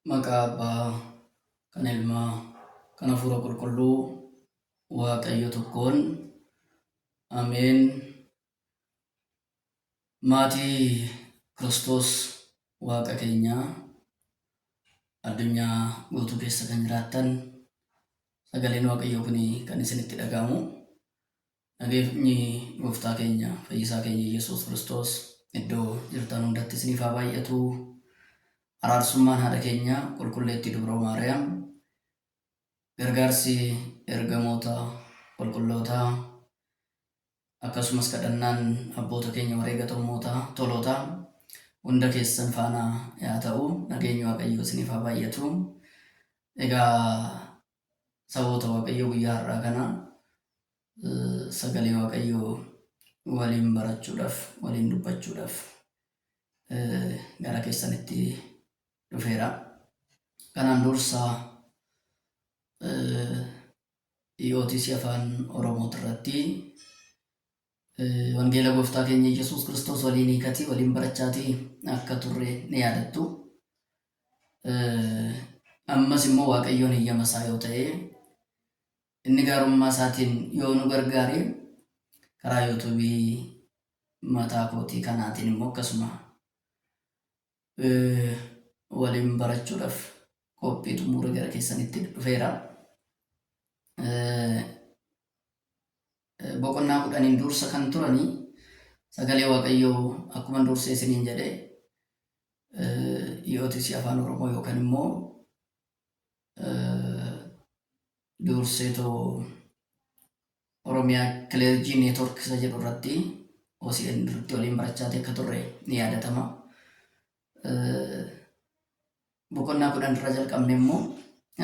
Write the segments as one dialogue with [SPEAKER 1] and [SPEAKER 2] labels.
[SPEAKER 1] Maqaa Abbaa, kan Ilmaa, kan Hafuura Qulqulluu, Waaqayyo tokkoon. Ameen. Maatii Kiristoos Waaqa keenyaa addunyaa guutuu keessa kan jiraattan sagaleen Waaqayyoo kun kan isinitti dhaga'amu Nageenyi Gooftaa keenya Fayyisaa keenya Yesuus Kiristoos iddoo jirtan hundatti isiniif haa baay'atu. Araarsummaan haadha keenya qulqulleettii Dubroo Maariyaam gargaarsi ergamoota qulqullootaa akkasumas kadhannaan abboota keenya wareega tommootaa tolootaa hunda keessan faana yaa ta'u nageenyi waaqayyoo isiniif haa baay'atu. Egaa saboota Waaqayyoo guyyaa har'aa kana sagalee Waaqayyoo waliin barachuudhaaf, waliin dubbachuudhaaf gara keessanitti dhufeera. Kanaan dursa EOTC afaan Oromoo irratti Wangeela Gooftaa keenya Yesuus Kiristoos waliin hiikatii waliin barachaatii akka turre ni yaadattu. Ammas immoo Waaqayyoon heyyama isaa yoo ta'e inni gaarummaa isaatiin yoo nu gargaare karaa yuutuubii mataa kootii kanaatiin immoo akkasuma waliin barachuudhaaf qophii xumuree gara keessanitti dhufeera. Boqonnaa kudhaniin dursa kan turanii sagalee Waaqayyoo akkuma dursee isiniin jedhe EOTC Afaan Oromoo yookaan immoo dursee too Oromia Clergy Network isa jedhu irratti OCN irratti waliin barachaati akka turre ni yaadatama. Boqonnaa kudhan irra jalqabne immoo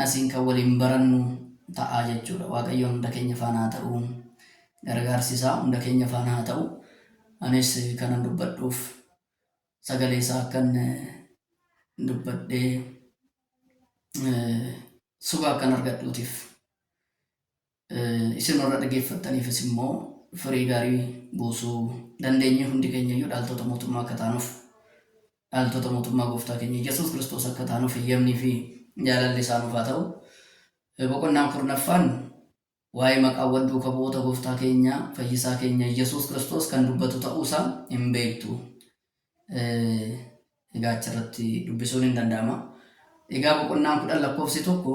[SPEAKER 1] asiin kan waliin barannu ta'a jechuudha. Waaqayyoon hunda keenya faana haa ta'u. Gargaarsi isaa hunda keenya faana haa ta'u. Anis kanan dubbadhuuf sagalee isaa akkan dubbadhee suba akkan argadhuutiif Isin warra dhageeffattaniifis immoo firii gaarii buusuu dandeenye hundi keenya iyyuu dhaaltota mootummaa akka taanuuf dhaaltota mootummaa gooftaa keenya Yesuus Kiristoos akka taanuuf eeyyamnii fi jaalalli isaa nuuf haa ta'u. Boqonnaan kurnaffaan waa'ee maqaawwan duuka bu'oota gooftaa keenya fayyisaa keenya Yesuus Kiristoos kan dubbatu ta'uusaa hin beektu. Egaa achirratti dubbisuun hin danda'ama. Egaa boqonnaan kudhan lakkoofsi tokko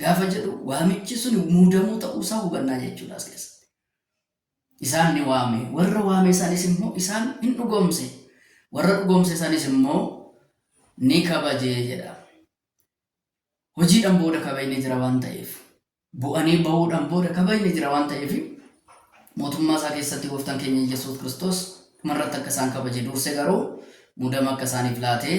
[SPEAKER 1] gaafa jedhu waamichi sun muudamuu ta'uu isaa hubannaa jechuudha as keessatti. Isaan ni waame, warra waame isaaniis immoo isaan hin dhugoomse, warra dhugoomse isaaniis immoo ni kabaje jedha. Hojiidhaan booda kabajni jira waan ta'eef, bu'anii ba'uudhaan booda kabajni jira waan ta'eef, mootummaa isaa keessatti gooftaan keenya Iyyasuus Kiristoos dhumarratti akka isaan kabaje duurse garuu muudama akka isaaniif laatee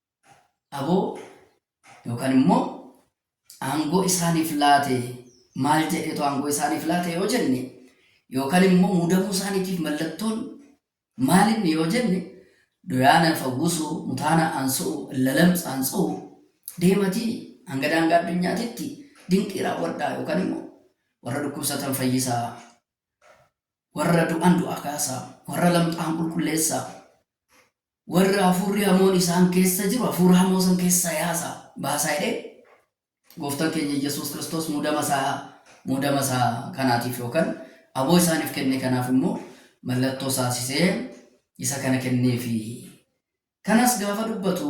[SPEAKER 1] aboo yookaan immoo aangoo isaaniif laate maal jedheetu aangoo isaaniif laate yoo jenne yookaan immoo muudamuu isaaniitiif mallattoon maalinni yoo jenne doyaana fawwusuu mutaana aansu'u lalamsa aansu'u deematii hanga daangaa addunyaatitti dinqii raawwadhaa yookaan immoo warra dhukkubsatan fayyisaa warra du'an du'aa kaasaa warra lamxaan qulqulleessaa Warra hafuurri hamoon isaan keessa jiru hafuura hamoo san keessaa yaasaa, baasaa jedhee gooftan keenya Yesuus Kiristoos muudama isaa muudama isaa kanaatiif yookaan aboo isaaniif kenne kanaaf immoo mallattoo saasisee isa kana kenneefi. Kanas gaafa dubbatu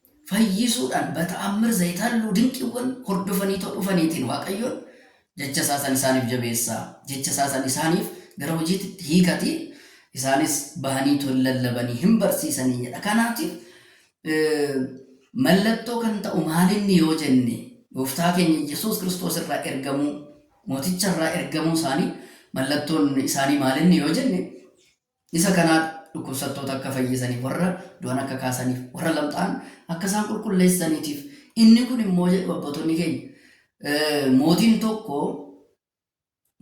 [SPEAKER 1] fayyisuudhaan bata'ammir zayitaalluu dinqiiwwan hordofaniitoo dhufaniitiin Waaqayyoon jecha isaa san isaaniif jabeessaa jecha isaa san isaaniif gara hojiitti hiikati isaanis bahaniitoo hin lallabanii hin barsiisanii jedha kanaatiif mallattoo kan ta'u maalinni yoo jenne gooftaa keenya Yesuus Kiristoos irraa ergamuu mooticha irraa ergamuu isaanii mallattoon isaanii maalinni yoo jenne Isa kana dhukkubsattoota akka fayyisaniif, warra du'an akka kaasaniif, warra lamxaa'an akka isaan qulqulleessaniitiif. Inni kun immoo jedhu abbootonni keenya, mootiin tokko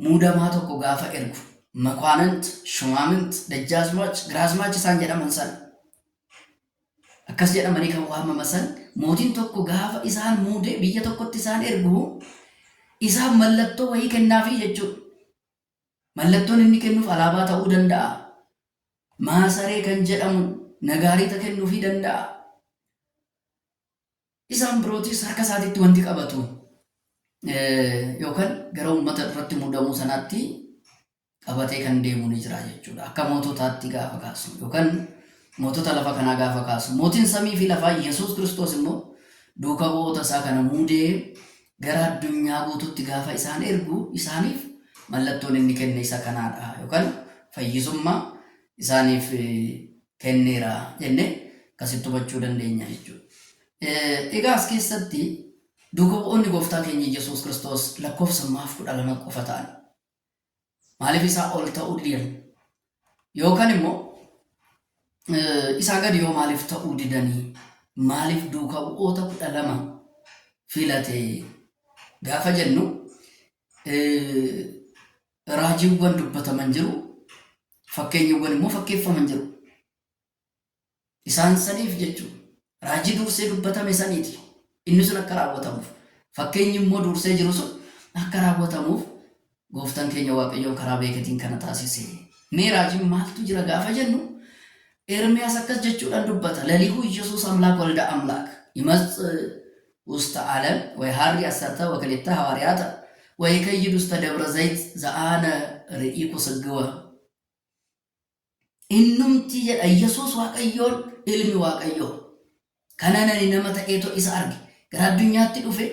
[SPEAKER 1] muudamaa tokko gaafa ergu, makwaanant, shumaamint, dajjaazmaach, giraazmaach isaan jedhaman san akkas jedhamanii kan waamama san mootiin tokko gaafa isaan muude biyya tokkotti isaan ergu isaaf mallattoo wayii kennaafii jechuudha. Mallattoon inni kennuuf alaabaa ta'uu danda'aa? Maasaree kan jedhamu nagaariixa kennuufii danda'aa? Isaan birootis harka isaatitti wanti qabatu yookaan gara uummata irratti muudamuu sanaatti qabatee kan deemu ni jira jechuudha. Akka moototaatti gaafa kaasnu yookaan mootota lafa kanaa gaafa kaasnu mootiin samii fi lafaa Yesuus Kiristoos immoo duuka bu'oota isaa kana muudee gara addunyaa guututti gaafa isaan ergu isaaniif mallattoon inni kenne isa kanaadha yookaan fayyisummaa isaaniif kenneera jennee akkasitti hubachuu dandeenya jechuudha. Egaa as keessatti duuka bu'oonni gooftaa keenya Yesuus Kiristoos lakkoofsa maaf kudha lama qofa ta'an. Maaliif isaa ol ta'uu didan? Yookaan immoo isaa gadi yoo maaliif ta'uu didanii? Maaliif duuka bu'oota kudha lama filate gaafa jennu raajiiwwan dubbataman jiru, fakkeenyawwan immoo fakkeeffaman jiru. Isaan saniif jechu, raajii duursee dubbatame saniiti. Inni sun akka raawwatamuuf, fakkeenyi immoo duursee jiru sun akka raawwatamuuf Gooftan keenya Waaqayyoon karaa beeketiin kana taasise. Mee raajiin maaltu jira gaafa jennu, Ermiyaas akkas jechuudhaan dubbata, lelihu Iyyasuus Amlaak walda Amlaak, imatz usta Alem, way haarri assarta wakalitta hawaariyaata, way kayyid usta Dabra Zayit za'aana ri'iku sgwa. Innumtii jedha Yesuus Waaqayyoon ilmi Waaqayyoo. Kanan ani nama ta'eetoo isa arge. Gara addunyaatti dhufe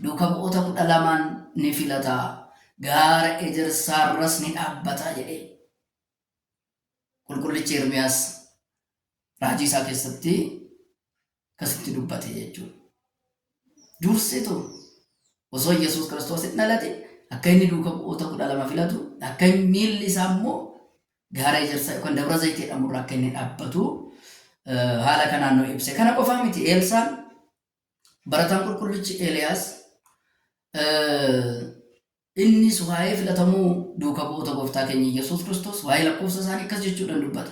[SPEAKER 1] duuka bu'oota kudha lamaan ni filata. Gaara ejersaarras ni dhaabbata jedhe. Qulqullichi Ermiyaas raajii isaa keessatti akkasitti dubbate jechuudha. Dursitu osoo Yesuus Kiristoos hin dhalatin akka inni duuka bu'oota kudha lama filatu akka inni miilli isaa immoo gaara ejersaa yookaan dabra zayitee jedhamurra akka inni dhaabbatu eh, haala kanaan nu ibse. Kana qofaa miti Eelsaan barataan qulqullichi Eeliyaas eh, innis waa'ee filatamuu duuka bu'oota gooftaa keenya Yesuus Kiristoos waa'ee lakkoofsa isaanii akkas jechuudhaan dubbata.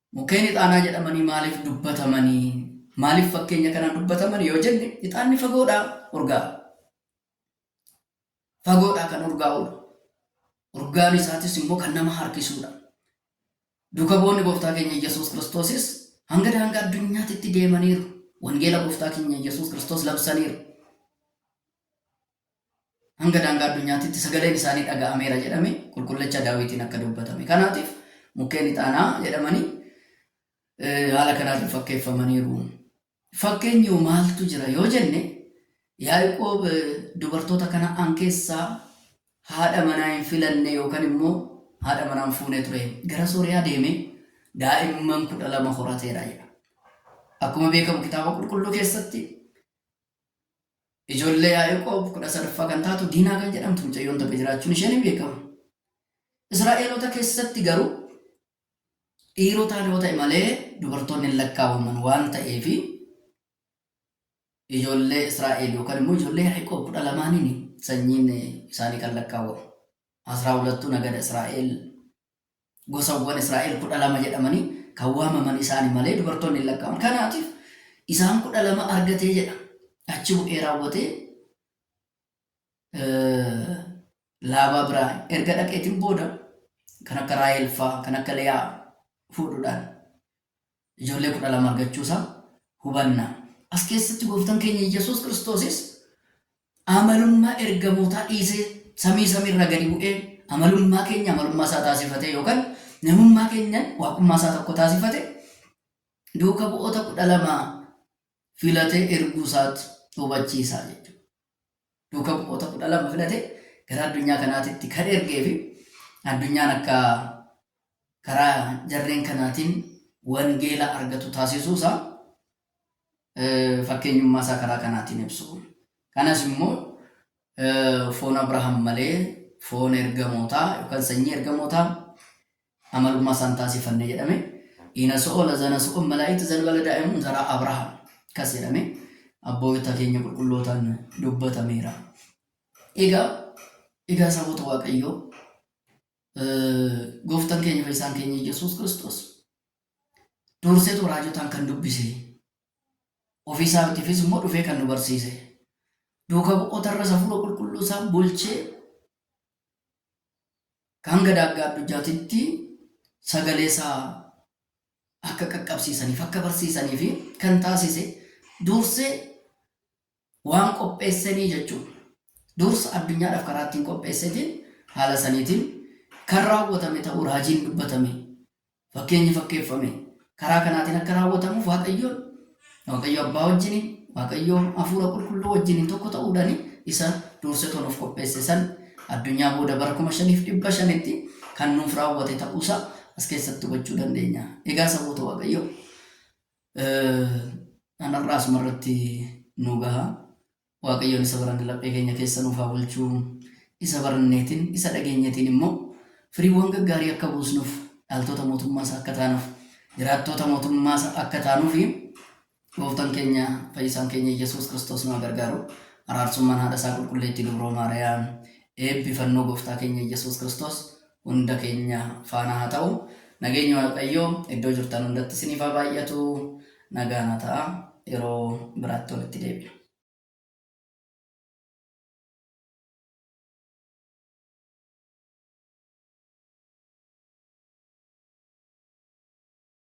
[SPEAKER 1] Mukeen ixaanaa jedhamanii maaliif dubbatamanii? Maaliif fakkeenya kanaan dubbataman yoo jenne ixaanni fagoodhaa urgaa'a. Fagoodhaa kan urgaa'udha. Urgaan isaatis immoo kan nama harkisudha. Duuka bu'oonni gooftaa keenya Iyyasuus Kiristoosis hanga daangaa addunyaatti itti deemaniiru. Wangeela gooftaa keenya Iyyasuus Kiristoos labsaniiru. hanga daangaa addunyaatitti sagaleen isaanii dhaga'ameera jedhame qulqullicha Daawitiin akka dubbatame. Kanaatiif mukkeen ixaanaa jedhamanii haala kanaatiin fakkeeffamaniiru. Fakkeenyi maaltu jira yoo jenne Yaaqoob dubartoota kana'aan keessaa haadha manaa hin filanne yookaan immoo haadha manaa hin fuune ture. Gara Sooriyaa deemee daa'imman kudha lama horateera jedha. Akkuma beekamu kitaaba qulqulluu keessatti Ijoollee Yaaqoob kudha sadaffaa kan taatu Diinaa kan jedhamtu mucayyoon takka jiraachuun ishee ni beekama. Israa'eloota keessatti garuu dhiirotaan yoo ta'e malee dubartoonni hin lakkaa'aman waan ta'eef ijoollee Israa'el yookaan immoo ijoollee Yaaqoob kudha lamaaniin sanyiin isaanii kan lakkaa'amu. Asraa hulattuu nagada Israa'el Gosawwan Israa'el kudha lama jedhamanii kan waamaman isaani malee dubartoonni hin lakkaa'aman. Kanaatiif isaan kudha lama argatee jedha. Achi bu'ee raawwatee laabaa biraa erga dhaqeetiin booda kan akka Raahel faa kan akka Liyaa fuudhuudhaan ijoollee kudha lama argachuu isaa hubanna. As keessatti gooftan keenya Yesuus Kiristoosis amalummaa ergamootaa dhiisee samii samiirra gadi bu'ee amalummaa keenya amalummaa isaa taasifatee yookaan namummaa keenyan waaqummaa isaa tokko taasifate duuka bu'oota kudha lama filatee erguu isaatti hubachiisaa jechuudha. duuka bu'oota kudha lama filate gara addunyaa kanaatitti kan ergee fi addunyaan akka karaa jarreen kanaatiin wangeela argatu taasisuu isaa fakkeenyummaa isaa karaa kanaatiin ibsu. Kanas immoo foon Abrahaam malee foon ergamootaa yookaan sanyii ergamootaa Amalumma isaan taasifanne jedhame. Ina so'o lazana so'o malaa'itu zalbala daa'imuun zaraa Abrahaam kas jedhame abboota keenya qulqullootaan dubbatameera. Egaa egaa saboota Waaqayyoo gooftan keenya fayyisaan keenya Yesuus Kiristoos durseetu raajotaan kan dubbise ofiisaatiifis immoo dhufee kan nu barsiise duuka bu'oota irra safuura qulqulluu isaa bulchee kan gadaa akka addunyaatitti sagalee isaa akka qaqqabsiisaniif akka barsiisanii fi kan taasise dursee waan qopheessenii jechuudha. Dursa addunyaadhaaf karaa ittiin qopheessetiin haala saniitiin kan raawwatame ta'uu raajiin dubbatame Fakkeenyi fakkeeffame karaa kanaatiin akka raawwatamuuf Waaqayyoon Waaqayyo abbaa wajjiniin Waaqayyo hafuura qulqulluu wajjiniin tokko ta'uudhaan isa duursetoo nuuf qopheesse san addunyaa booda bara kuma shaniif dhibba shanitti kan nuuf raawwate ta'uusaa as keessatti hubachuu dandeenya. Egaa saboota Waaqayyo anarraa asumarratti nu gaha. Waaqayyoon isa baranne laphee keenya keessa nuuf haa bulchu. Isa baranneetiin, isa dhageenyetiin immoo firiiwwan gaggaarii akka buusnuuf, dhaaltoota mootummaa isaa akka taanuuf, jiraattoota mootummaa isaa akka taanuufi gooftaan keenya fayyisaan keenya Yesuus Kiristoos nu haa gargaaru. Araarsummaan haadha isaa qulqulleettii dubroo Maariyaam, eebbi fannoo gooftaa keenya Yesuus Kiristoos hunda keenya faana haa ta'u. Nageenyi Waaqayyoo iddoo jirtan hundatti isiniif haa baay'atu. Nagaa naa ta'aa. Yeroo biraatti walitti deebina.